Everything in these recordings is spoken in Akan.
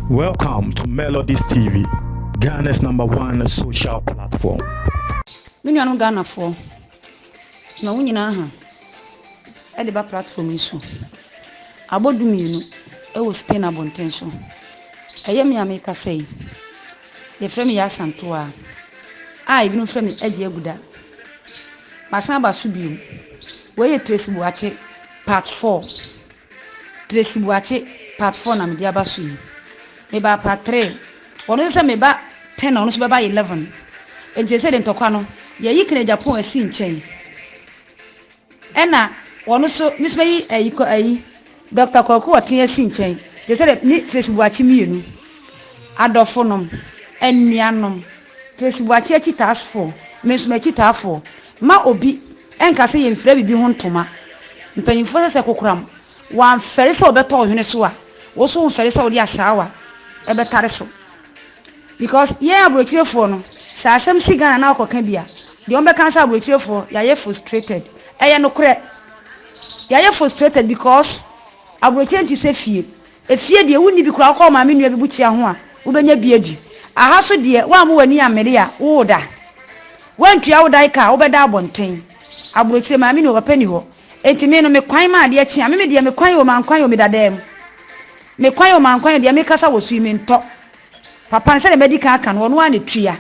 Welcome to Melodies TV, Ghana's number one social platform. Me nuanom Ghanafoɔ, ma wo nyinaa ha ɛde ba platform yi so. Abɔ du mmienu ɛwɔ Spain abɔnten so. Ɛyɛ me a mekasa yi. Yɛfrɛ me Yasantoa a ebinom frɛ me Agye Aguda. Masan aba so bio. Wei yɛ Tracy Boakye part four. Tracy Boakye part four na mede aba so yi. Mebaa part three. Ɔno nso sɛ meba ten na ɔno nso bɛba eleven. Nti sɛ de ntɔkwa no, yɛyi Kena Agyapong asi nkyɛn. Ɛna ɔno nso, me nso mɛyi ayi kɔ ayi Dɔkta Kwaku Ɔtease nkyɛn, gye sɛ dɛ ne Tracy Boakye mmienu adɔfonom, anuanom, Tracy Boakye akyitaafoɔ, me nso m'akyitaafoɔ, mma obi nka sɛ yɛmfira biribi ho ntoma. Mpanimfoɔ sɛ sɛ kokoram, wɔamfɛre sɛ wɔbɛtɔ wo hwene so a, wo nso womfɛre sɛ wode asaawa bɛtare so. Because yɛn abrokyirefoɔ no, sɛ asɛm si Ghana na ɔkɔka bi a, deɛ wɔbɛka ne sɛ abrokyirefoɔ yɛayɛ frustrated. Ɛyɛ nokorɛ. Yɛayɛ frustrated because abrokyire nte sɛ fie. Efie deɛ wonni bi koraa, wokɔ wo maame nua bi bukyia ho a, wobɛnya bi adi. Aha so deɛ, woammo w'ani ammere a, woreda. Woantua wo dan ka a, wobɛda abɔnten. Abrokyire, maame ni hɔ, papa ni hɔ. Enti me no, me kwan ma adeɛ kye a, me me deɛ, me kwan o, mankwan o, meda dan mu. Me kwan o mankwan o deɛ mekasa wɔ so yi mentɔ Papa no sɛdeɛ madi kan aka no ɔno ara na ɛtua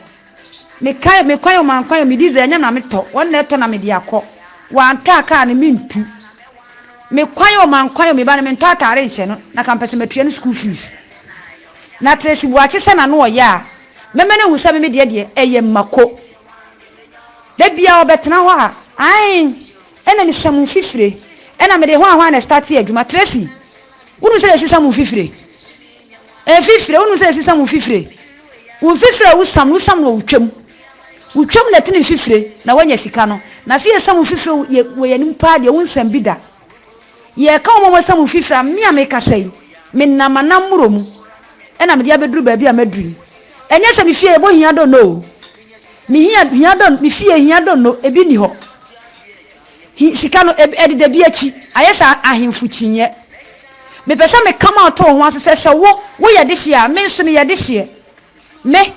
Me kan me kwan o mankwan o me diesel ɛnyɛ na metɔ wɔn na ɛtɔ na mede akɔ Wantɔ a kaa no mentu Me kwan o mankwan o me ba no mentɔ ataare nhyɛ no na ka mpɛ sɛ matua no school fees Na Tracy Boakye sɛ n'ano ɔyɛ a mɛma no ahu sɛ me me deɛ deɛ ɛyɛ mako Da biara ɔbɛtena hɔ a ae ɛna mesam mfifire ɛna mede hwan hwan na ɛstartee adwuma Tracy Wonim sɛ yɛsesam wo mfifire? Mfifire, wonim sɛ yɛsesam wo mfifire? Wo mfifire a wosam no, wosam no wɔ wo twam. Wo twam na ɛte ne mfifire, na woanya sika no. Na sɛ yɛsam wo mfifire wɔ yɛn anim paa deɛ, wonsam bi da. Yɛreka wɔn a wɔasam wo mfifire a, me a mekasa yi, menam m'anammoro mu na mede abɛduru baabi a maduru yi. Ɛnyɛ sɛ me fie yɛ bohia dɔnnɔ o. Me hia, hia dɔn, me fie hia dɔnnɔ, ebi nni hɔ. Hi, sika no, eb, ɛde da bi akyi. Ayɛ sɛ a, ahemfo kyinnyɛ. Mepɛ sɛ meka ma ɔto wo ho ase sɛ, sɛ wo, woyɛ dehyeɛ a, me nso meyɛ dehyeɛ. Me,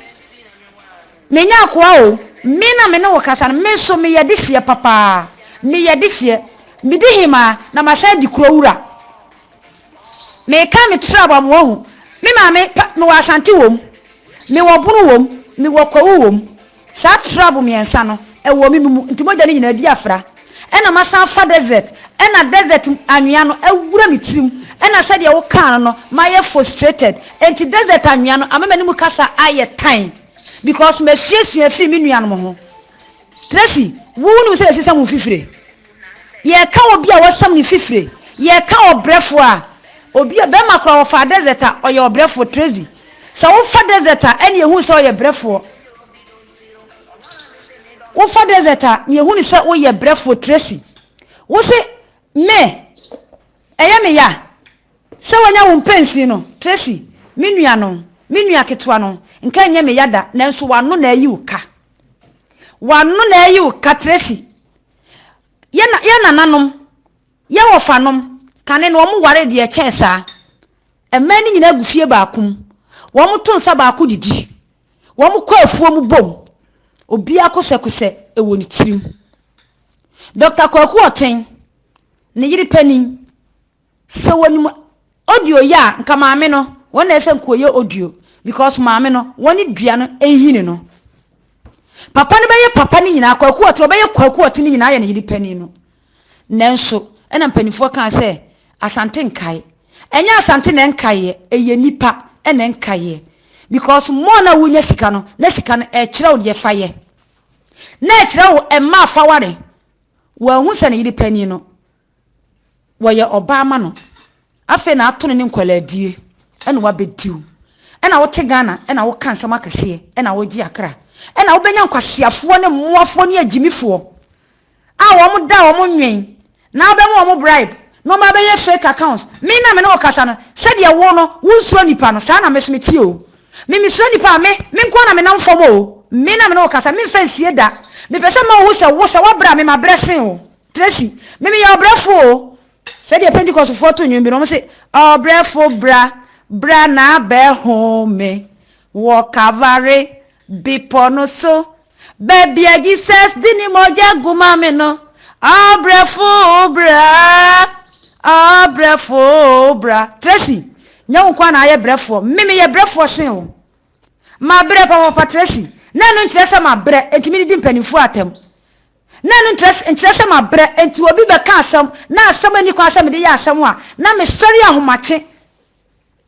menya akoa o, me na me ne wo kasa no, me nso meyɛ dehyeɛ papaa. Meyɛ dehyeɛ. Medi hemaa, na masan adi kuro wura. Meka me trab a, mo ahu. Me maame, pa, mewɔ Asante wɔ mu. Mewɔ ɔbono wom, mewɔ kwawu wom, saa trab mmiɛnsa no wɔ me mu, nti mogya no nyinaa di afra. Ɛna masan afa dɛsɛt, ɛna dɛsɛt anwea no awura me tirim, ɛna sɛdeɛ wokaa no no, mayɛ fostrated, nti dɛsɛt anwea no ama m'anim kasa ayɛ tan, bikɔs masuasua afiri me nuanom ho. Tracy, Wunim sɛ yɛasesam wo fifire. Yɛka obi a wɔasesam ne fifire. Yɛka ɔbrɛfo a. Obi a, barima koro a wɔfaa Desert a, ɔyɛ ɔbrɛfo. Tracy, Sɛ wofa Desert a, ɛnneɛ hu sɛ ɔyɛ brɛfoɔ. Wofa Desert a, nea ɛhu no sɛ woyɛ brɛfoɔ. Tracy, Wose me, ɛyɛ me ya sɛ wanya wo mpensin no? Tracy, Me nua no, me nua ketewa no, nka ɛnyɛ me ya da, nanso w'ano na ayi wo ka. W'ano na ɛyi wo katresi. Yɛ na yɛ nananom, yɛ wɔfanom, kane no wɔn ware deɛ ɛkyɛn saa. Mmaa no nyinaa gu fie baako mu. Wɔn to nsa baako didi. Wɔn kɔ afuo mu bom. Obiara kosɛkosɛ ɛwɔ ne tirim. Dɔkta Kwaku Ɔten, ne yere panin. Sɛ wɔnim audio yɛ a nka maame no wɔn na ɛsɛ nka wɔyɛ audio because maame no wɔn ne dua no nhini no. Papa no bɛyɛ papa no nyinaa kwaku ɔte ɔbɛyɛ kwaku ɔte no nyinaa yɛ ne yere panin no. Nanso ɛna mpanimfoɔ kaa sɛ asante nkae. Ɛnyɛ asante na ɛnkaeɛ ɛyɛ nipa ɛna ɛnkaeɛ because more na wonya sika no na sika no ɛkyerɛ wo deɛ fa yɛ na ɛkyerɛ wo ɛmma afaware wɔahu sɛ ne yere panin no wɔyɛ ɔbaa ma no, afei na ato no ne nkwaladie ɛna wabɛdi wo. Ɛna wote Ghana ɛna woka nsɛm akɛseɛ ɛna wogye akra. Ɛna wobɛnya nkwaseafoɔ ne mmoafoɔ ne agyimifoɔ a wɔn da a wɔn nwen na wobɛma wɔn bribe na wɔn abɛyɛ fake accounts. Me na me ne wo kasa no, sɛdeɛ wo no wonsuro nnipa no, saa na me nso meteɛ o. Me mesuro nnipa a, me, me nko ara na menam fam o. Me na me ne wo kasa, memfa nsie da. Mepɛ sɛ mema wohu sɛ wo, sɛ woabrɛ a, me mabrɛ sen wo. Tracy, Me meyɛ ɔbrɛfo o. Sɛdeɛ Pentekɔsfoɔ to nnwom bi no, wɔse, Ɔbrɛfo bra, bra na bɛhome wɔ Kalvare bepɔ no so, baabi a Jesus de ne mogya gu ma me no. Ɔbrɛfo bra, ɔbrɛfo bra. Tracy, Nyɛ wo nko ara na ayɛ brɛfoɔ. Me meyɛ brɛfoɔ sen wo. Mabrɛ papaapa Tracy. Na ɛno nkyerɛ sɛ mabrɛ, enti medidi mpanimfoɔ atɛm. Na ɛno nkyerɛ sɛ mabrɛ, enti obi bɛka asɛm, na asɛm a enni kwan sɛ mede yɛ asɛm a, na mesɔre ahomakye.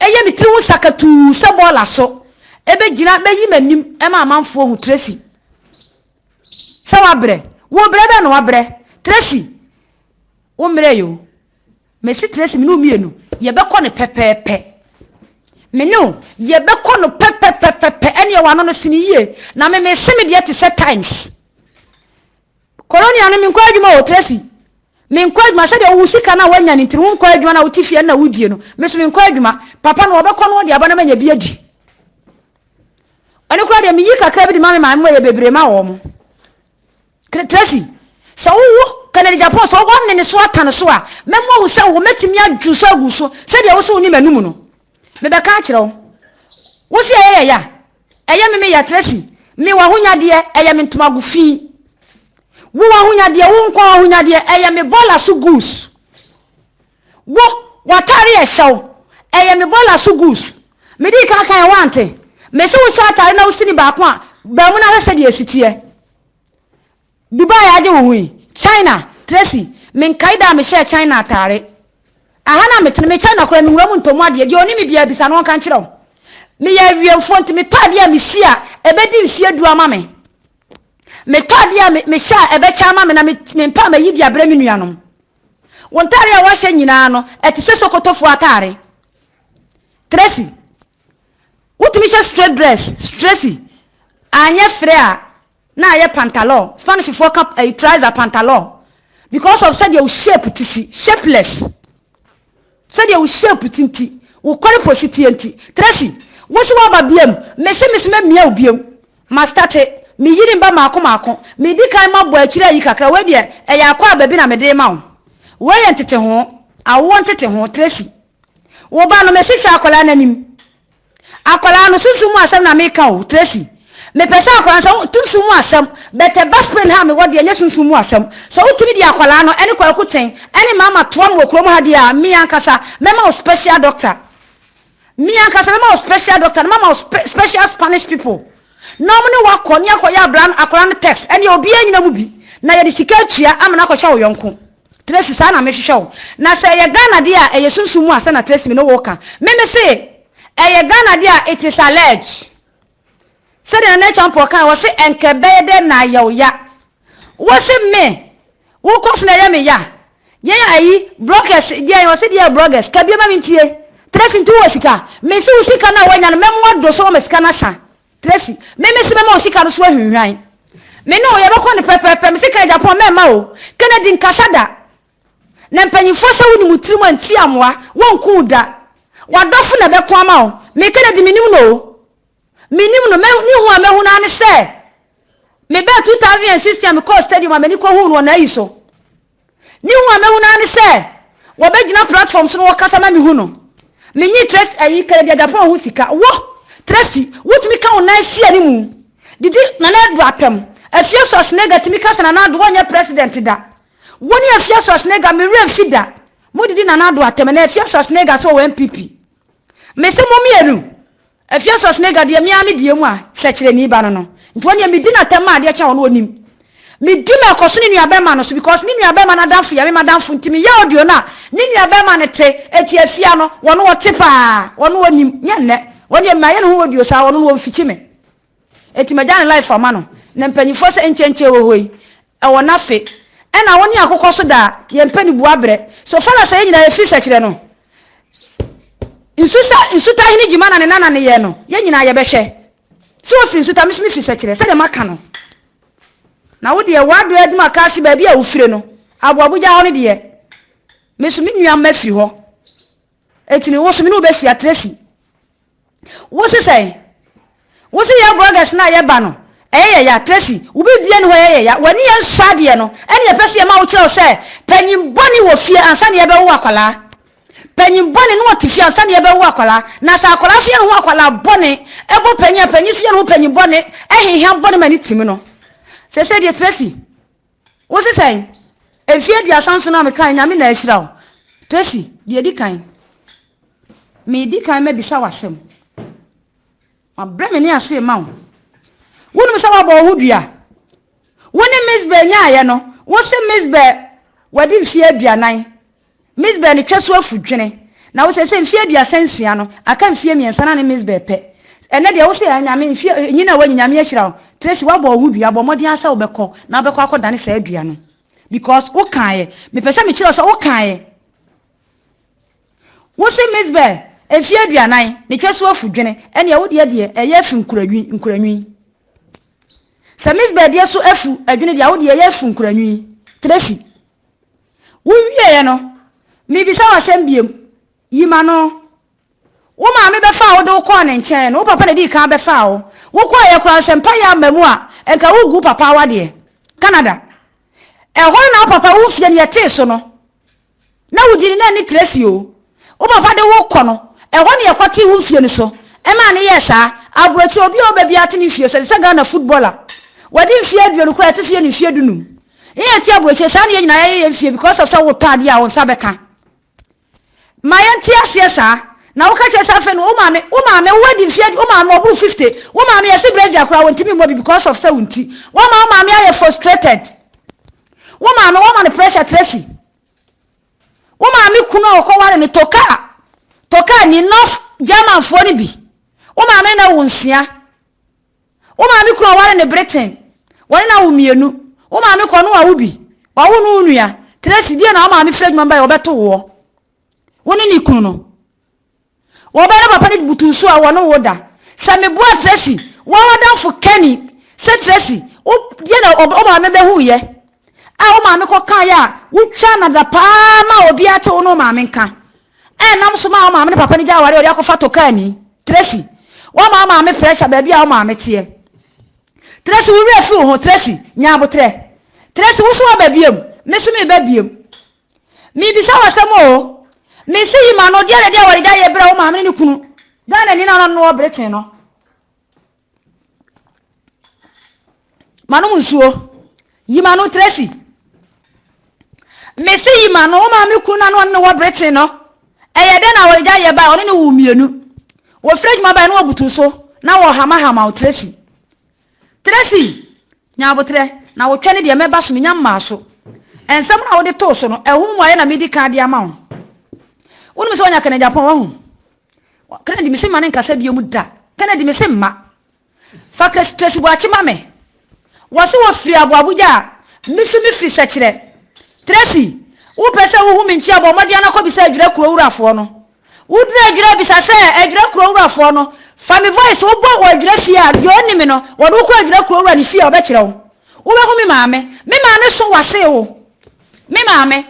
Ɛyɛ me tiri ho sakatuu sɛ bɔɔla so. Ebegyina beyi m'anim ma amanfoɔ ahu Tracy sɛ wabrɛ. Wo brɛ bɛn na wabrɛ? Tracy, wo mmerɛe o. Mesi Tracy, me ne wo mmienu, yɛbɛkɔ no pɛpɛɛpɛ. Me ne wo, yɛbɛkɔ no pɛpɛpɛpɛpɛ. Ɛnneɛ w'ano no sini yie, na me mese me deɛ te sɛ Times. Koronia no, menkɔ adwuma o, Tracy. Menkɔ adwuma sɛdeɛ wo sika no a woanya no nti no, wonkɔ adwuma na wote fie ɛnna wodie no. Me nso menkɔ adwuma. Papa no, ɔbɛkɔ na ɔde aba na manya bi adi. Ɛno koraa deɛ, meyi kakra bi de ma me maame ma ɛyɛ bebree ma wɔn. Tracy, sɛ wowo Kennedy Gyapong sɛ ɔwɔ ne ne so ata ne so a, mɛma ohu sɛ wo mɛtumi adwo so agu so sɛdeɛ wo so wonim anum no. Mebɛka akyerɛ wo. Wo se ɛyɛ yɛya? Ɛyɛ me meya Tracy. Me w'ahonyadeɛ, ɛyɛ me ntomago fi. Wo w'ahonyadeɛ, wo nkwa w'ahonyadeɛ, ɛyɛ me bɔɔla so goose. Wo, w'atare a ɛhyɛ wo, ɛyɛ me bɔɔla so goose. Medii kan kaeɛ, woante? Mese wo hyɛ atare na wo sini baako a, bamu na hwɛ sɛdeɛ ɛsi teɛ. Dubai a agye wo ho yi, China, Tracy, menkae da a mehyɛɛ China atare. Aha na metene, me China koraa menwura mu ntɔ mu adeɛ, deɛ ɔnim me biara bisa no ɔnka nkyerɛ wo. Meyɛ awiɛmfoɔ nti metɔ adeɛ a mesi a ɛbɛdi mfeɛ du ama me. Metɔ adeɛ a mehyɛ a ɛbɛkyɛ ama me na mempɛ a mayi de abrɛ me nuanom. Wo ntare a woahyɛ nyinaa no, ɛte sɛ Sokotofoɔ atare. Tracy, wotumi hyɛ straight dress, Tracy, anyɛ frɛ a, na ayɛ pantalon. Spanishfoɔ ka ɛyi trouser pantalon because of sɛdeɛ wo shape te si, shapeless. Sɛdeɛ wo shape te nti wo kɔre po si teɛ nti Tracy wo so waba biam me se me so mɛ mia wo biam ma starte me yiri mba maako maako me di kan ma bɔ akyire ayi kakra wei deɛ ɛyɛ akɔ aba bi na me de rema wo wei yɛ ntetehoo awoɔ ntetehoo Tracy wo ba no me se hwɛ akwadaa no anim. Akwadaa no, sunsum mu asɛm na meka o, Tracy. Mepɛ sɛ akwadaa no, sɛ wo, sunsum mu asɛm, but the best pain ha a mewɔ deɛ, ɛnyɛ sunsum mu asɛm. Sɛ wotumi de akwadaa no, ɛne Kwaku Ten, ɛne Mama toa no wɔ kurom ha deɛ a, me ankasa, mɛma wo special doctor. Me ankasa, mɛma wo special doctor, na mama wo spe, special Spanish people, na wɔn ne wo akɔ, ne akɔyɛ abraa no, akwadaa no test. Ɛdeɛ, obiara nyina mu bi, na yɛde sika atua ama no akɔhwɛ wo yɔnko. Tracy saa na mehwehwɛ wo na sɛ ɛyɛ Ghana deɛ a ɛyɛ sunsum mu asɛm na Tracy me ne wo reka me mese ɛyɛ Ghana deɛ a it is alleged sɛdeɛ Nana Atwa Mpoɔ kae ɔse ɛnkɛ bɛyɛ dɛ na ayɛ wo ya wose me wo kɔ so na ɛyɛ me ya yɛn ayi bloggers deɛ ɔse deɛ yɛ bloggers ka bie ma me ntie Tracy nti wɔ sika mese wo sika no a woanya no mɛmoa do so wɔ ma sika no asa Tracy, Me me se mɛma wo sika no so ahwinhwan. Me ne wo yɛbɛkɔ no pɛpɛɛpɛ. Me se kan Japan mɛmma wo. Kennedy nkasa da. Na mpanyinfoɔ sɛ wonim wo tiri mu a nti amoa. Wɔnku wo da. W'adɔfo na ɛbɛko ama wo. Me Kennedy menim no o. Menim no. Mɛ ne hu a mahu no ara ne sɛ mebɛɛ 2016 a mekɔɔ stadium a m'ani kɔhuu no wɔ n'ayi so. Mihu a mahu no ara ne sɛ wɔbɛgyina platform so na wɔkasa ma mehu no. Menye Tracy ayi Kennedy Agyapong ho sika. Wo, Tracy, wotumi ka wo nan si ani mu didi Nana Addo atɛm. Afia Schwarzenegger tumi ka sɛ Nana Addo ɔnyɛ president da. Wo ne Afia Schwarzenegger, me werɛ mfi da, modidi Nana Addo atɛm. Ɛnɛ Afia Schwarzenegger nso wɔ NPP. Mese mo mmienu, Ephesus ne Gadia me ara me deɛ mu a sɛkyerɛni ba no no nti ɔneɛ me di no atɛm ma adeɛ kye a ɔno ɔnim me di ma ɛkɔ so ne nua bɛɛma no so because me nua bɛɛma no adamfo yɛ me madamfo nti me yɛ audio no a ne nua bɛɛma no te ɛti afia no ɔno ɔte paa ɔno ɔnim nyɛ nnɛ ɔneɛ mayɛ ne ho audio saa ɔno no ɔnfikyi me. Enti magya ne life ama no na mpanyinfoɔ sɛ nkyenkye wɔ hɔ yi ɛwɔ nafe ɛna wo ne akokɔ so daa yɛmpɛ ne bua brɛ so fala sɛ yɛ nyinaa yɛfiri sɛkyerɛ no nsusa nsuta hene gyima na ne nana ne yɛ no yɛ nyinaa yɛbɛhwɛ sɛ wɔfiri nsuta meso mefiri sɛkyerɛ sɛdeɛ maka no na wo deɛ wɔadɔ adum aka ase baabi a wofire no aboabogya hɔ no deɛ meso me nua mma firi hɔ Eti me woso me ne wo behyia Tracy. Wose sɛn? Wose yɛn vloggers no a yɛba no ɛyɛ yɛ ya? Tracy, wo biribiara nni hɔ ɛyɛ yɛ ya. W'ani yɛ nsɔ adeɛ no ɛna yɛpɛ sɛ yɛma wo kyerɛ wo sɛ panyin bɔne wɔ fie ansa na yɛbɛwo akwadaa. Panyin bɔne na ɔte fie ansa na yɛbɛwo akwadaa. Na sɛ akwadaa nso yɛ ne ho akwadaa bɔne ɛbɔ panyin a, panyin nso yɛ ne ho panyin bɔne ɛhehia bɔne ma ne tim no. Seesei deɛ Tracy. Wo se sɛn? Mfeɛ aduasa nson a mekaeɛ Nyame na ahyira wo. Tracy, deɛ ɛdi kan, medi kan mabisa wo asɛm. Mabrɛ me ne ase rema wo. Wonim sɛ woabɔ wo ho dua? Wo ne Miss Bell nyaaeɛ no, wo se Miss Bell wadi mfeɛ aduanan. Mizbeh no twa so afu dwene. Na wo sɛ, sɛ mfie aduasa nsia no, aka mfie mmiɛnsa na ne Mizbeh pɛ. Ɛnnɛ deɛ wo sɛ, ah Nyame, mfie, nyin a woanyin, Nyame ahyira wo. Tracy, woabɔ wo ho dua, bɔ mmɔden ara sɛ wobɛkɔ, na wobɛkɔ akɔdane saa dua no. Because wo kaeɛ. Mepɛ sɛ mekyerɛ wo sɛ wo kaeɛ. Wo se Mizbeh, mfie aduanan, ne twa so afu dwene, ɛnneɛ wo deɛ deɛ, ɛyɛ afu nkuranwi, nkuranwi. Sɛ Mizbeh deɛ so afu adwene deɛ a, wo deɛ ɛyɛ afu nkuranwi. Tracy, Wowieeɛ no, mebisa wo asɛm biom, yi m'ano. Wo maame bɛfaa wo de wo kɔɔ ne nkyɛn no, wo papa na ɛdii kan bɛfaa wo. Wokɔeɛ koraa no, sɛ mpaeɛ amma mu a, nka wogu wo papa awadeɛ. Canada. Ɛhɔ no na wo papa wo mfeɛ no yɛtee so no, na wodi no na ɛne Tracy o. Wo papa de wo kɔ no, ɛhɔ na yɛkɔtee wo mfie no so maa no yɛɛ saa. Aburokyire, obi a ɔba biara te ne fie so, te sɛ Ghana footballer. Wadi mfeɛ aduonu koraa a, ɛto so yɛ no mfeɛ dunum. Yɛn a yɛte aburokyire, saa na yɛn nyinaa yɛyɛ yɛn mfeɛ because of sɛ wotɔ adeɛ a wo nsa bɛka. Ma yɛnte aseɛ saa. Na woka kyerɛ sɛ afei no wo maame, wo maame, wo adi mfeɛ, wo maame ɔboro fifty, wo maame yɛse brazier koraa wɔntumi mmɔ bi because of sɛ wo nti. Woama wo maame ayɛ frustrated. Wo maame, woama no pressure, Tracy. Wo maame kunu a ɔkɔware no tɔ kaa. Tɔ kaa ni North Germanfoɔ no bi. Wo maame na wo nsia. Wo maame kunu a ɔware no Britain, wɔne no awo mmienu. Wo maame kɔ no wawo bi. Wawo no wo nua. Tracy, deɛ na wo maame firi adwuma mu baeɛ ɔbɛto woɔ. Wo ne ne kunu no. Wo ba ne papa no butuw so a wɔne wo da. Sɛ meboa Tracy, wo ara w'adamfo Kenny, sɛ Tracy, wo deɛ na wo maame bɛhuiɛ a wo maame kɔkaeɛ a wotwaa no adapaa maa obiara te wo ne wo maame nka a ɛnam so maa wo maame ne papa no gyaa aware a wɔde akɔfa tokaani. Tracy, woama wo maame pressure baabi a wo maame teɛ. Tracy, wo werɛ afi wo ho. Tracy, nya aboterɛ. Tracy, wo nso woaba biom. Me nso meba biom. Mibisa wo asɛm oo. Me se yi m'ano, deɛ na ɛde awaredi ayɛ berɛ a wo maame ne ne kunu, Ghanani na ɔno wɔ Britain no. Manom nsuo. Yi m'ano Tracy. Me se yi m'ano, wo maame kunu na ɔno ne wɔ Britain no. Ɛyɛ dɛn na awaredi ayɛ ba a ɔne ne wo mmienu. Wɔfiri adwuma bae na wɔbutu so na wɔhamahama wo Tracy. Tracy, nya aboterɛ, na wo twɛ no deɛ mɛba so, menya mmaa so. Nsɛm no a wode too so no, ɛho mmuaeɛ na medi kan de ama wo. Wonim sɛ wɔnya Kennedy Agyapong, wahu? Kennedy, mese mma no nkasa biom da. Kennedy, mese mma. Fa Tracy Boakye ma me. Wɔse wɔfiri aboaboagya a, me so mefiri sɛkyerɛ. Tracy, wopɛ sɛ wohu me nkyia bɔ mmɔden na kɔbisa Adwira Kuro wurafoɔ no. Wo duru adwira bisa sɛ adwira kuro wura foɔ no fa me voice wo bɔ wɔ adwira fie a deɛ ɔnni me no wɔde wo kɔ adwira kuro wura ne fie a ɔbɛ kyerɛ wo wo bɛ hu me maame me maame so wa see wo me maame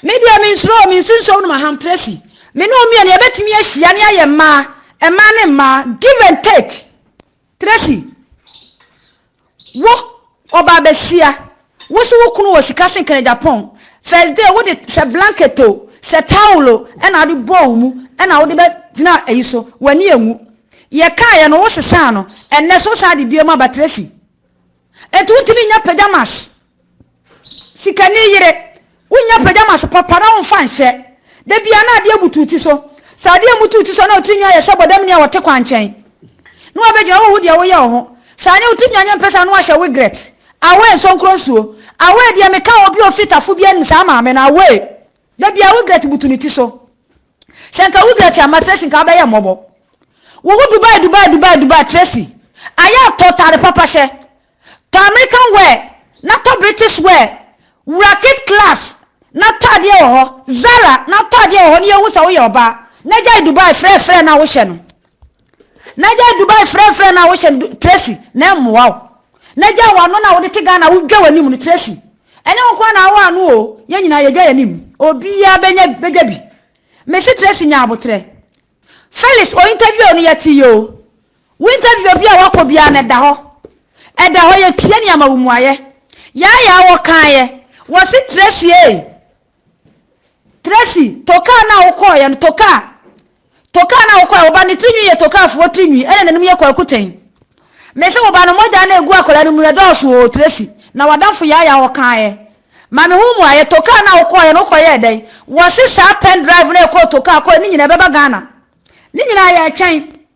me deɛ me nsuro o me nsi nsuo no ma ham tracy me ne wo mmienu yɛ bɛ tumi ahyia ne ayɛ mmaa mmaa ne mmaa give and take. Tracy, Wo, ɔbaa basia, wo se wo kunu wɔ sika sen kane Japan, first day wo de sɛ blanket o, sɛ towel o ɛna wode bɔɔ wo mu ɛna wode bɛ gyina ayi so, w'ani anwu. Yɛ kaeɛ no wo sesaa no, ɛnnɛ so wo san de biom aba Tracy. Enti wontumi nnya pajamas. Sikani yere, wonnya pajamas papa na womfa nhyɛ. Da biara na adeɛ butu wo ti so. Sɛ adeɛ mmutu wo ti so a na wo tirinwi ayɛ sɛ bɔdamni a wɔte kwankyɛn. Na woabɛgyina hɔ rehu deɛ woyɛ wo ho. Sɛ anyɛ wo tirinwi anyɛ mpɛsɛ a na woahyɛ wigret. Awee nsonkronsuo. Awee deɛ meka obi ɔfiri tafo bi anim saa maame no awee. Da biara wo gret butu ne ti so. Sɛ nka wo gret amma Tracy nka wobɛyɛ mmɔbɔ. Wo ho Dubai Dubai Dubai Dubai Tracy ayɛ a tɔ tare papa hyɛ. Tɔ American wear na tɔ British wear wura Kit Class na tɔ adeɛ wɔ hɔ Zara na tɔ adeɛ wɔ hɔ na yɛhu sɛ woyɛ ɔbaa na gyae Dubai frɛfrɛ no a wohyɛ no. N'agya yɛ Dubai frɛfrɛ no a wohyɛ no Tracy na ɛmmoa wo. N'agya a wano no a wode te Ghana a wodwa w'anim no Tracy ɛnyɛ wo nkoaa na awo ano oo yɛn nyinaa yɛdwa yɛn anim obiaa bɛnya bɛdwa bi mese Tracy nya abotrɛ Felix o interview no yɛte yɛ o wo interview bia wakɔ biaa no ɛda hɔ ɛda hɔ yɛtie ne ama wo muayɛ yaayaa wɔkaayɛ wɔse Tracy ee Tracy, tokaa no a wokɔɔeɛ no, tokaa. Tokaa no a wokɔɔeɛ, wo ba ne tiri nwi yɛ tokaafoɔ tiri nwi, ɛna n'anim yɛ kwakutɛn. Mese wo ba no mogya no a egu akwadaa no mu no ɛdɔɔso oo Tracy, na w'adamfo Yaya ɔkaaɛ. Ma me ho mmuaeɛ, tokaa no a wokɔɔeɛ no wokɔyɛɛ dɛn? Wɔse saa pen drive no a ɛkɔɔ tokaa kɔɔeɛ no nyinaa ɛbɛba Ghana? Ne nyinaa yɛretwɛn.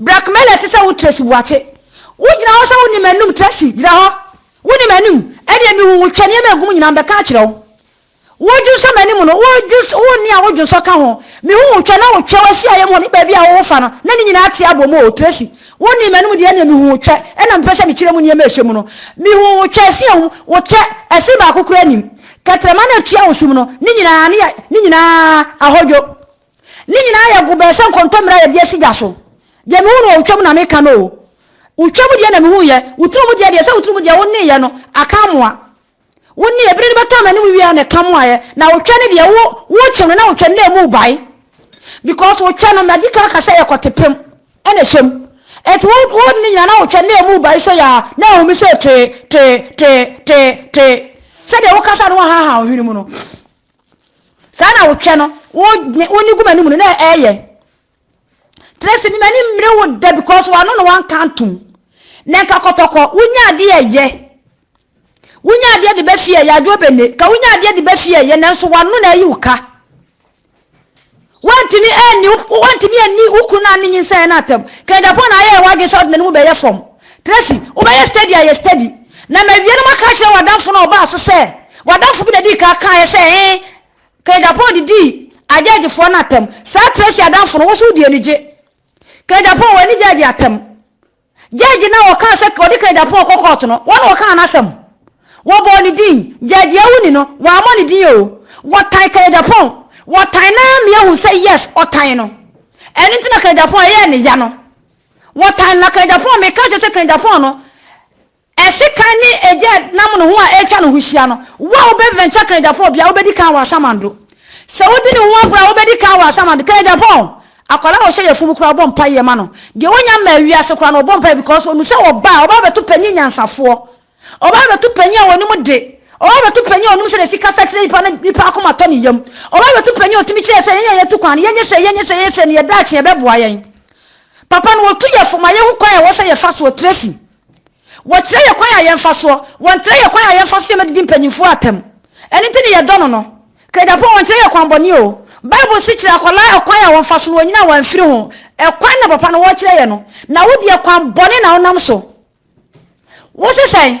Brakmɛlɛ ɛte sɛ wo Tracy Boakye wo gyina hɔ sɛ wo nim anum Tracy gyina hɔ wo nim anum ɛdeɛ me hu wo twɛ nneɛma ɛgu mu nyinaa me bɛka akyerɛ wo wo dwonsɔ m'anim no wo dwonsɔ wo nne a wo dwonsɔ ka ho me hu wo twɛ na wo twɛ wo ahyia yɛ mu hɔ ne baabi a wo wo fa no na ne nyinaa te abɔ mu o Tracy wo nim anum deɛ ɛdeɛ me hu wo twɛ ɛna me pɛ sɛ me kyerɛ mu nneɛma ɛhyɛ mu no me hu wo twɛ ɛsi ɛhu wo kyɛ ɛsi baako kura nim kɛtrɛma na ɛtua wo sum no ne nyinaa ne yɛ ne nyinaa ahodwo. Ne nyinaa yɛ go bɛɛ sɛ nkɔntɔmmire a yɛde asi gya so. Deɛ mehu no wɔ wo twam na meka no o. Wo twam deɛ na mehuiɛ. Wo turo mu deɛ deɛ sɛ wo turo mu deɛ wo nneeɛ no aka amoa. Wo nneeɛ bere no bɛtɔ m'anim wie a na ɛka moaeɛ. Na wo twɛ no deɛ wo wokye no na wo twɛ no na ɛmu rebae. Because wo twɛ no madi kan aka sɛ ɛyɛ kɔte pem ɛna ɛhyɛ mu. Ɛnti wo wo ne nyinaa na wo twɛ no na ɛmu rebae sei aa na ahumi sei tee tee tee tee tee. Sɛdeɛ wo kasa no wo ahaha wo hwene mu no. Saa na wo twɛ no, wo ne wo ne gu m'anim no na ɛyɛ. Tracy, me m'ani mmere wo da because w'ano na wanka ntom. Na nka kɔtɔkɔ, wonya adeɛ yɛ. Wonya adeɛ de bɛ fie yɛ adwo bɛne. Ka wonya adeɛ de bɛ fie yɛ nanso w'ano na ayi wo ka. Woantumi anni wo woantumi anni wo kunu na ne nyinsɛn no atɛm. Kɛgyapɔn na ayɛɛ w'adwene sɛ wode n'anim bɛyɛ fam. Tracy, wobɛyɛ steady ayɛ steady. Na mawie no maka akyerɛ w'adamfo no a ɔbaa so sɛ w'adamfo bi na dii kan kaeɛ sɛ he Kɛgyapɔn de dii agyɛɛgyefoɔ no atɛm. Saa Tracy adamfo no, wo nso wode anigye. Kɛgyapɔn, w'ani gyɛɛgye atɛm. Judge no a wɔkaa sɛ wɔde Kennedy Aponah kɔ kɔɔto no, wɔn na wɔkaa n'asɛm. Wɔbɔɔ ne din, Judge Awuni no, wammɔ ne din oo. Wɔtan Kennedy Aponah. Wɔtan no ara mia hu sɛ yes, wɔtan no. Ɛno nti na Kennedy Aponah yɛɛ ne ya no. Wɔtan no na Kennedy Aponah, meka kyerɛ sɛ Kennedy Aponah no, Sekan ne egya nam no ho a etwa no ho hyia no, wo a wobɛventure Kanegyapɔn bia wobɛdi kan wɔ Asamando. Sɛ wodi ne ho agorɔ a wobɛdi kan wɔ Asamando. Kanegyapɔn, akwadaa a ɔhyɛ yafunu koraa ɔbɔ mpaeɛ ma no. Deɛ ɔnya mmaa wiase koraa no ɔbɔ mpaeɛ because ɔnu sɛ ɔba a ɔba abɛto panyin nyansafoɔ. Ɔba abɛto panyin a ɔnim de. Ɔba abɛto panyin a ɔnim sɛdeɛ yɛsi kasa kyerɛ nipa na nipa akoma tɔ ne yam. Ɔba abɛto panyin a ɔtumi kyerɛ sɛ yɛn a yɛtu kwan no yɛnyɛ sei yɛnyɛ sei yɛnyɛ sei no yɛn daakye ɛbɛboa yɛn. Papa no ɔtu yɛfo ma yɛhu kwan a ɛwɔ sɛ yɛfa soɔ. Tracy. Wɔkyerɛ yɛ kwan a yɛmfa soɔ. Wɔntrɛ yɛ kwan a yɛmfa so yɛ no didi mpaninfoɔ atam. Ɛno nti ne yɛdɔ no no. Krejapon wɔnkyerɛ yɛ kwan bɔne oo. Bible se kyerɛ akwadaa ɛkwan a wɔmfa so na wɔanyini a wɔamfiri ho. Ɛkwan na papa no wɔkyerɛ yɛ no. Na wo deɛ kwan bɔne na wonam so. Wo se sɛn?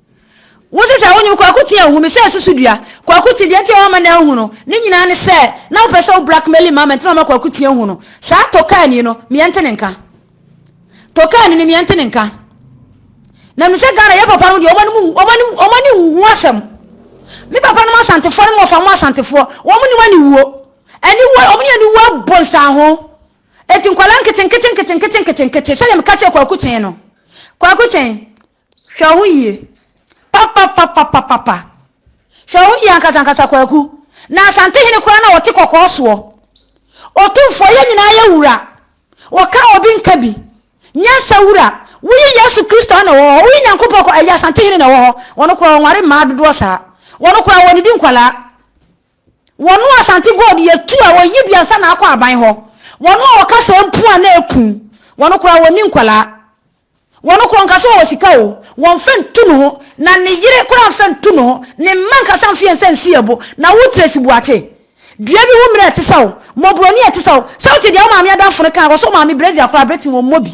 Wo se sɛ wonyim Kwaku Tee a ohu me sɛ susudua. Kwaku Tee, deɛ nti a woamma no anhu no ne nyinaa ne sɛ na wopɛ sɛ wo blackmailing ma me nti na woamma Kwaku Tee anhu no. Saa Tokaani no, meɛ nte ne nka. Tokaani no, meɛ nte ne nka. Na menim sɛ Ghana, yɛ papa nom deɛ, wɔn ani nhu asɛm. Me papa nom Asantefoɔ ne me wɔfa mo Asantefoɔ, wɔn nim aniwuo. Aniwuo, wɔn ne aniwuo abɔ nsanho. Eti nkwadaa nketenkete nketenkete nketenkete sɛdeɛ meka kyerɛ Kwaku Tee no. Kwaku Tee. Hwɛ wo yie papapapapapa. Hwɛ wo yie ankasankasa Kwaku. Na Asantehene koraa na ɔte kɔkɔɔ soɔ. Otumfoɔ yɛn nyinaa yɛ wura. Wɔka obi nka bi. Nyansa wura. Woyi Yesu Kristo a na ɔwɔ hɔ. Woyi Nyankopɔn kɔ ɛyɛ Asantehene na ɛwɔ hɔ. Wɔn koraa wɔnware mmaa dodoɔ saa. Wɔn koraa wɔdidi nkwadaa. Wɔn a Asante gold yɛ tu a wɔyi bi ansa na akɔ aban hɔ. Wɔn a wɔka saa mpu a na ɛku. Wɔn koraa wɔnni nkwadaa. Wɔn koro nka sɛ ɔwɔ sika oo, wɔmfa ntu ne ho, na ne yere koraa mfa ntu ne ho, ne mma ankasa mfe nsa nsi ɛbo. Na wo Tracy Buakye, dua bi ho mmerɛ a ɛte sa wo, mmɔborɔni a ɛte sa wo, sɛ wote deɛ wo maame adamfo no kaa, wɔsɔ maame brɛ dzi akora abrɛ te wɔmmɔ bi.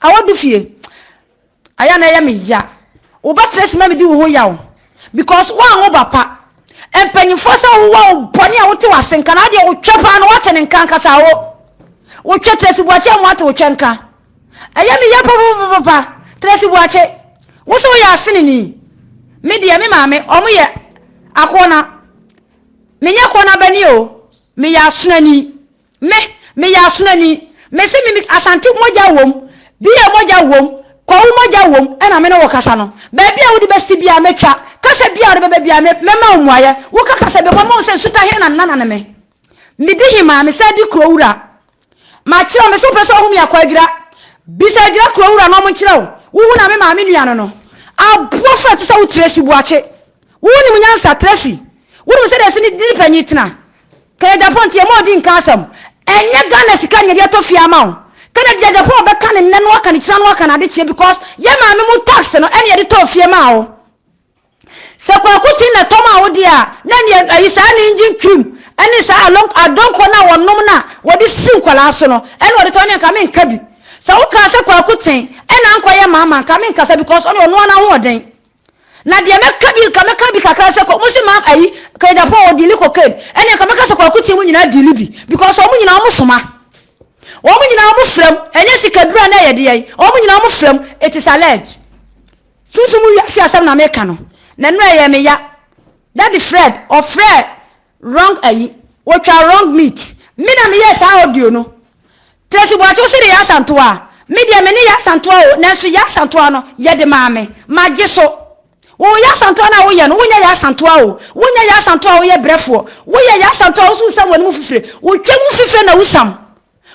Awɔ du fie. Ayɛ a na ɛyɛ me ya. Wo ba Tracy ma medi wo ho yaw because woanwo ba pa. Mpanyinfoɔ sɛ wowa wo bɔne a wote w'ase nka, na adeɛ wotwɛ paa no woate ne nka ankasa oo. Wotwɛ Tracy Buakye amu ate wotwɛ nka. Ɛyɛ me ya papapapapa. Tracy Boakye, wo so woyɛ aseneni. Me deɛ, me maame, wɔn yɛ akoɔna. Me nyɛ koɔna bani o. Me yɛ asonani. Me, me yɛ asonani. Me se me, me Asante mogya wom, BA mogya wom, Kwawu mogya wom, ɛna me ne wo kasa no. Baabi a wode bɛsi biara mɛtwa. Kasa biara a wode bɛba biara, me, mɛma wo mmuaeɛ. Woka kasa bi a, mɛma wo sɛ nsuta he na nana ne me. Medi he maa, mesan di kuro wura. Makyerɛ wo, mese wopɛ sɛ ɔho me akɔ adwira. Bisa adwira kuro wura na ɔmo nkyerɛ wo. Wohu na me maame nua no no. Aboɔ frɛ te sɛ wo Tracy Buakye. Wo nim nyansa Tracy. Wo nim sɛdeɛ ɛse ne dini panyin tena. Ka yɛ Japan nti yɛ ma ɔdi nka asɛm. Ɛnyɛ Ghana sika na yɛde atɔ fie ama wo. Ka na deɛ Japan bɛka no nnɛ no aka no kyina no aka no adekyeɛ because yɛ maame mu tax no ɛna yɛde tɔɔ fie maa wo. Sɛ kwaku te na tɔm a wode a, na nea ayi saa ne engine cream ne saa along adonko no a wɔnom no a wɔde si nkwadaa so no ɛna ɔde tɔ ne nka menka bi. Sɛ wokaa sɛ kwaku ten ɛna ankɔyɛ maama nka menkasa because ɔne ɔnoa n'ahoɔden. Na deɛ mɛka bi ka mɛka bi kakra sɛ mo se maam ayi kɛ Japan wɔ dili cocaine ɛne nka mɛka sɛ kwaku ten mu nyinaa dili bi because wɔn nyinaa wɔn soma. Wɔn nyinaa wɔn frɛm ɛnyɛ sikadura na ɛyɛ deɛ wɔn nyinaa wɔn frɛm it is alleged. Sunsum wiase asɛm na meka no, na nnura ɛyɛ me ya. Daddy Fred ɔfrɛɛ wrong ayi, wɔtwaa wrong meat. Me na meyɛɛ saa audio no. Tracy Boakye wo se de Yaa Asantewaa a, me deɛ me ne Yaa Asantewaa o, nanso Yaa Asantewaa no, yɛde maa me. Magye so. Wo Yaa Asantewaa no a woyɛ no, wonyɛ Yaa Asantewaa o. Wonyɛ Yaa Asantewaa a woyɛ brɛfoɔ. Woyɛ Yaa Asantewaa a wosunsam w'anim fifire, wotwam fifire na wusam.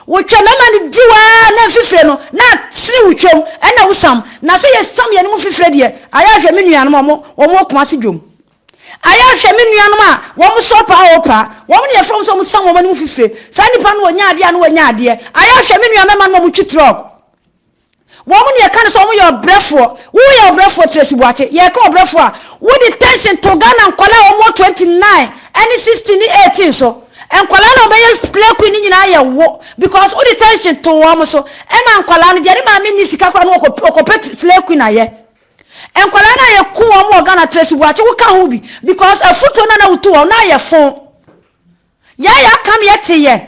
Wo twa mɛma no diw aa na nfifire no na atene wo twam ɛna wo sam na sɛ yɛ sam yɛne mu nfifire deɛ ayɛ hwɛ me nuanom a wɔn wɔn wɔ kumase dwom ayɛ hwɛ me nuanom a wɔn sɔ paa wɔ paa wɔn ne yɛfrɛ wɔn sɛ wɔn sam wɔn anim nfifire saa nipa no wɔ nya adeɛ a na wɔ nya adeɛ ayɛ hwɛ me nua mɛma no wɔn twi trɔk Wɔn na yɛka no sɛ wɔyɛ ɔbrɛfoɔ. Woyɛ ɔbrɛfoɔ Tracy Boakye. Yɛka ɔbrɛfoɔ a, wode tension to Ghana nkwadaa a wɔn wɔ 29 ɛne 16 ne 18 so. Nkwadaa na wɔbɛyɛ Play Queen no nyinaa yɛ wo because wode tension to wɔn so. Ɛma nkwadaa no deɛ ne maame nni sika koraa no wɔkɔ wɔkɔpɛ Play Queen ayɛ. Nkwadaa no a yɛku wɔn wɔ Ghana Tracy Boakye woka ho bi because afutuo no a na wotu wɔn no ayɛ fon. Yɛayɛ aka no yɛte yɛ.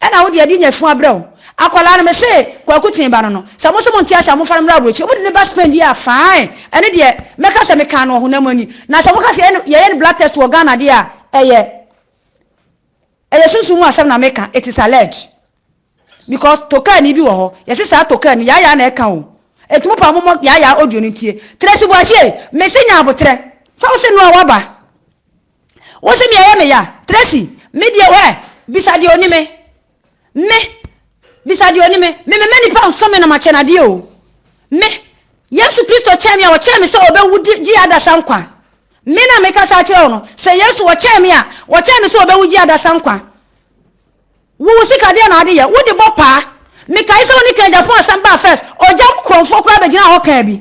Ɛna wo deɛ ɛde nya fua brɛ wo. Akwadaa no mese kwaku tee ba no no sɛ mo nso mo nte ase a mo mfa no mmra aburokyire ɔmo de ne ba Spain deɛ a fine ɛno deɛ mɛka sɛ mekaa no ɔhonam ani na sɛ moka sɛ yɛyɛ no yɛyɛ no blood test wɔ Ghana deɛ a ɛyɛ ɛyɛ sunsum mu asɛm na meka it is alleged because tokaani bi wɔ hɔ yɛse saa tokaani yaayaa na ɛka o ɛti mo paa mo mɔ yaayaa audio no ntie Tracy Boakyie mese nya abotrɛ sɛ wo se noa waba Wo se nea ɛyɛ me ya. Tracy, Me deɛ hwɛ, bisa deɛ ɔni me. Me, Bisa deɛ ɔni me. Me memma nnipa nso me na makyɛ no adeɛ o. Me, Yesu Kristo kyɛn me a, ɔkyɛn me sɛ ɔbɛwu di gye adasa nkwa. Me na mekasa akyerɛ wo no. Sɛ Yesu ɔkyɛn me a, ɔkyɛn me sɛ ɔbɛwu gye adasa nkwa. Wo wo sika deɛ na ade yɛ, wode bɔ paa. Mekae sɛ wo ne Ken Gyapong asɛm baa first, ɔgya wo kurɔmfoɔ koraa bɛgyinaa hɔ kaa bi.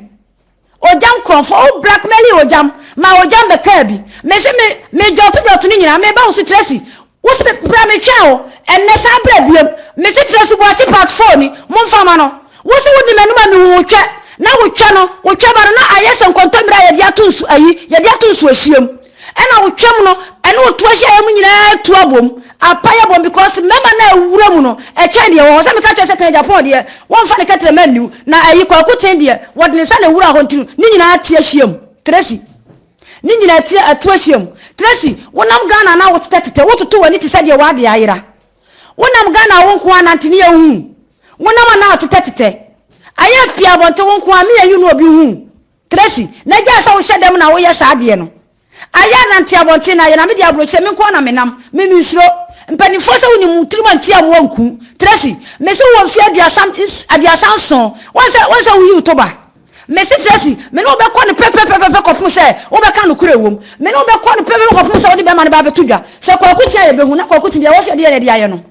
Ogyam nkorɔfoɔ, wo blackmaili Ogyam, maa Ogyam bɛkaa bi. Me se me, me dwɔto dwɔto no nyinaa, meba wo so Tracy, wo se bra me twɛn wo, ɛnnɛ san bra biom. Me se Tracy Boakye part 4 ni, monfa mma no. Wo se wodi m'anim a mehu wo twɛ, na wo twɛ no, wo twɛba no na ayɛ sɛ nkɔntɔmire a yɛde ato nsu, ayi, yɛde ato nsuohyeɛ mu. Ɛna otwam no, ɛne otu ahyiaeɛ mu nyinaa tu abom, apae abom because mmarima no a ɛwura mu no, ɛkyɛn deɛ ɛwɔ hɔ. Sɛ meka kyerɛ sɛ kan Japan deɛ, wɔmfa ne kɛterɛ mma nniw, na ayi Kwaku Ten deɛ, wɔde ne nsa na ɛwura hɔ nti no, ne nyinaa ti ahyiam. Tracy. Ne nyinaa ti atu ahyiam. Tracy, wonam Ghana na wotetɛtetɛ, wototo w'ani te sɛ deɛ w'adeɛ ayera. Wonam Ghana a wo nko ara nante, ne yɛn nhu wo. Wonam a na wotetɛtetɛ. Ayɛ pii abɔnten wo nko ara, me, you, na obi nhu wo. Tracy, na gyae sɛ wohyɛ dam na woyɛ saa adeɛ no. Ayɛ a nante abɔnten no ayɛ na me deɛ aburokyire me nko ara na me nam. Me me nsuro. Mpaninfoɔ sɛ wonim wo tirim antia mmoa nku. Tracy, me se wowɔ mfeɛ aduasa aduasa nson woahu sɛ woahu sɛ woyi wo toba. Me se Tracy, me ne wo bɛkɔ no pɛpɛpɛpɛpɛ kɔpem sɛ wobɛka nokorɛ wom. Me ne wo bɛkɔ no pɛpɛpɛ kɔpem sɛ wode bɛrima no ba abɛto dwa. Sɛ Kwaku te a yɛbɛhu na Kwaku te deɛ ɛwɔ sɛ yɛde yɛ no yɛde ayɛ no.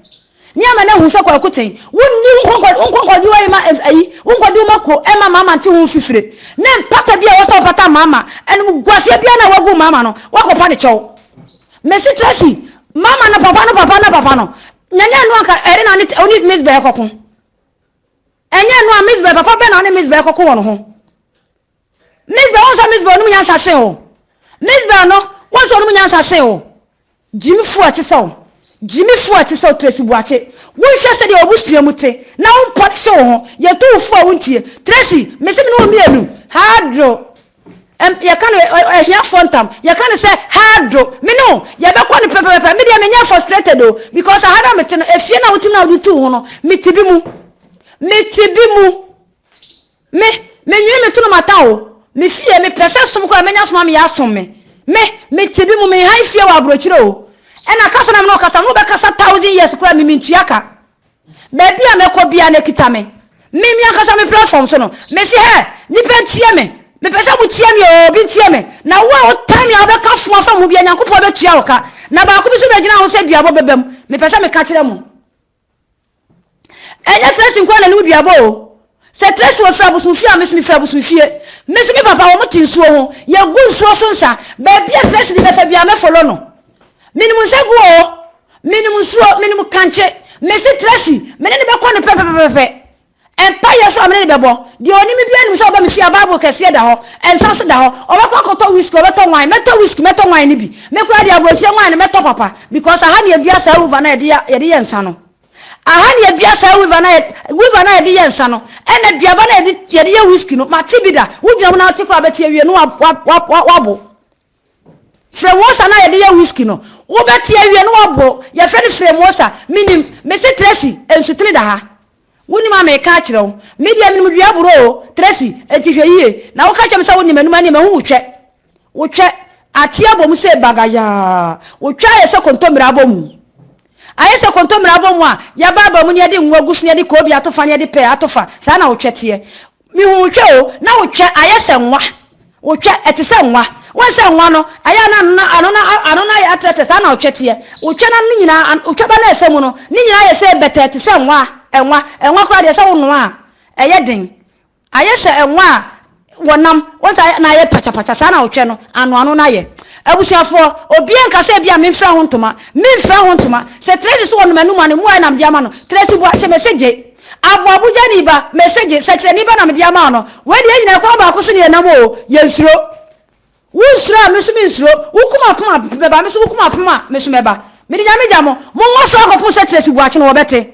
Nea ama no ahu sɛ Kwaku te, Wonni wo nkɔnkɔdiwa yi ma ayi, wo nkɔdiwo mako ɛma Mama nte ho mfifire, ne mpata bi a ɛwɔ sɛ wopata Mama, animguaseɛ biara no a woagu Mama no, woakɔpa no kyɛw. Mesi Tracy, Mama no papa no papa no papa no, Nyane ɛno anka ɛde na ɔne Miss Bɛ rekɔko. Ɛnyɛ ɛno a, Miss Bɛ, papa bɛn na ɔne Miss Bɛ rekɔko wɔ no ho? Misbel wɔn sɛ Misbel ɔnom nyansa sen wo Misbel no wɔn sɛ ɔnom nyansa sen wo Gyimifo a ɛte sɛ wo Gyimifo a ɛte sɛ wo Tracy Buakye wonhwɛ sɛdeɛ w'abusua mu te na wo mpɔlehye wo ho yɛtu wo fo a wontie Tracy mese me ne wo mmienu Hadro ɛm yɛka no ɛ ahiafoɔ ntam yɛka no sɛ Hadro me ne wo yɛbɛkɔ no pɛpɛpɛpɛ me deɛ menyɛ frustrated o because aha no a mete no efie no a wote no a wode tu wo ho no mete bi mu mete bi mu. Me, menwene me to no mata o, me fie, me pɛ sɛ som koraa mɛnya som a meyɛ asom me, me, me te bi mu, me han fie wɔ abrokyire o, ɛna kasa na me ne wo kasa no, wo bɛ kasa thousand years koraa me, me ntua ka, baabi a mɛkɔ biara no ɛkita me, me, me ankasa me platform so no, me se hɛ, nipa ntie me, me pɛ sɛ mo tie me o, obi ntie me, na wo a wo tan me a wo bɛ ka fo afa me ho biara Nyankopɔn bɛ tua wo ka, na baako bi nso bɛ gyina ho sɛ duabɔ bɛ bɛ mu, me pɛ sɛ me ka kyerɛ mo. Ɛnyɛ Trɛsi nko ara na ne ho duaba o. Sɛ Trɛsi wɔfiri abosomfie a, me nso mefiri abosomfie. Me nso me papa wɔte nsuo ho. Yɛgu nsuo so nsa. Baabi a Trɛsi de bɛfa biara mɛfolo no. Menim nsa gu o. Menim nsuo, menim kankye. Mese Trɛsi, me ne no bɛkɔ no pɛpɛpɛpɛ. Mpaeɛ nso a me ne no bɛbɔ. Deɛ ɔnim me biara nim sɛ ɔba me fie a Bible kɛseɛ da hɔ, nsa nso da hɔ. Ɔbɛkɔ akɔtɔ whisky, ɔbɛtɔ wine. Mɛtɔ whisky, mɛtɔ wine no bi. Me koraa deɛ abɔnfie wine no mɛtɔ papa because aha na yɛdua saa weaver no a yɛde yɛ nsa no. Aha na yɛdua saa weaver no a weaver no a yɛde yɛ nsa no ɛna aduaba no a yɛde yɛ whisky no. Mate bi da. Wogyina mu na wote koraa bɛte awie no wabo. Fremosa no a yɛde yɛ whisky no, wobɛte awie na woabɔ. Yɛfrɛ no Fremosa. Menim. Mese Tracy, nsutene da ha. Wonim a meka akyerɛ wo. Me deɛ menim dua aborɔ o, Tracy, enti hwɛ yie. Na woka kyerɛ me sɛ wonim anum a ɛneɛ mahu wo twɛ. Wotwɛ. Ateɛ abɔ mu sei bagayaa. Wotwɛ ayɛ sɛ kontommire abɔ mu. Ayɛ sɛ kontommire abɔ mu a, yɛba aba mu na yɛde ngo agu so na yɛde koobi ato fa na yɛde pɛɛ ato fa. Saa na wotwɛ teɛ. Mehu wo twɛ o, na wo twɛ ayɛ sɛ nwa, wo twɛ ɛte sɛ nwa. Woahu sɛ nwa no, ɛyɛ a na ano no, ano no, ano no ayɛ atrɛtrɛ, saa na wo twɛ teɛ. Wo twɛ no ano no nyinaa, wo twɛ ba no a ɛsɛ mu no, ne nyinaa ayɛ sɛ bɛtɛɛ te sɛ nwa, nwa, nwa koraa deɛ sɛ wo noa a, ɛyɛ den. Ayɛ sɛ nwa a wɔnam, woahu sɛ ayɛ, na ayɛ pakyapakya, saa na wo twɛ no ano, ano no ayɛ. Abusuafoɔ, obiara nka sɛ ebia memfira ho ntoma, memfira ho ntoma. Sɛ Tracy so wɔ nom anum a, ne mmoa a na mede ama no, Tracy Boakye, mese gye. Aboabudwani ba, message, sɛkyerɛni ba na mede ama wo no. Wei deɛ yɛn nyinaa kwan baako so ne yɛn nam oo, yɛn nsuro. Wo nsuro a, me nso me nsuro. Wo kum apem a, me ba, me nso wo kum apem a, me nso mɛba. Mede Nyame gya mo. Mo nwaso akɔpem sɛ Tracy Boakye no, wɔbɛte.